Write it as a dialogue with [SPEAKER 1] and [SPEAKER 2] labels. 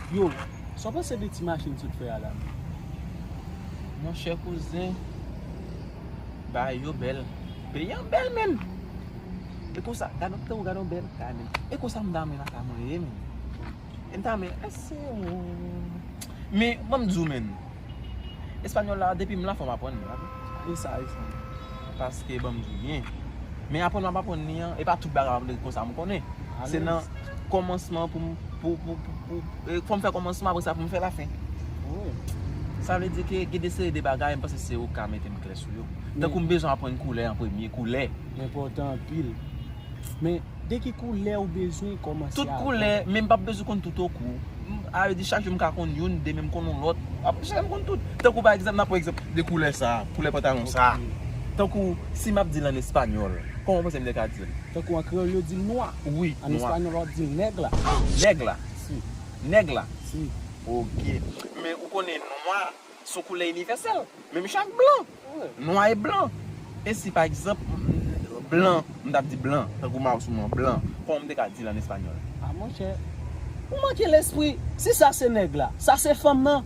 [SPEAKER 1] Yo, sa w panse de ti machin sou fè a la menm?
[SPEAKER 2] Mon chè kouzen, bagay yo bèl. Peyi an bèl menm. E konsa, gad on bèl bagay menm. E konsa m damou lakay mwen ye menm. Em ta renmen ese ou. Men banm diw menn. Español la depim la fòm aprann li ok. Ou saj ui.
[SPEAKER 1] Paske
[SPEAKER 2] banm diw byen. Men aprann map aprann li an. E pa tout bagay map aprann konsa m konnen. Se nan kòmansman poum pou pou pou fòm fè kòmansman apresa poum fè lafen.
[SPEAKER 1] Sa vle di
[SPEAKER 2] ke gen de seri de bagay m panse se ou ka metem klè sou yo. Tankou m bezwen aprann koulè an premye. Koulè. Enpòtan anpil.
[SPEAKER 1] Men. De ki koulè ou bezwen komanse avèk. Tout koulè, men m
[SPEAKER 2] pap bezwen konn tout ok ou. A vle di chak jou m ka konn youn, demen m konn yon lòt. Ap chak jou m konn tout. Tankou pa egzanp, nan pran egzanp de koulè sa, koulè pantalon sa. Tankou si m ap di l an espanyòl, kòman w panse m te ka di l? Tankou an kreyòl yo di
[SPEAKER 1] l nwa. Wi, nwa. An espanyòl
[SPEAKER 2] w ap di l
[SPEAKER 1] nèg la. Nèg la?
[SPEAKER 2] Si.
[SPEAKER 1] Nèg la?
[SPEAKER 2] Si.
[SPEAKER 1] Ok.
[SPEAKER 2] Men ou konnen nwa. Son koulè inivèsèl, menm jan ak blan, nwa e blan. E si pa egzanp, blan, m t ap di blan, tankou Mao sou mwen, blan, kòman m te ka di l an espanyòl? A monchè,
[SPEAKER 1] ou manke lespri. Si sa se nèg la, sa se fanm nan.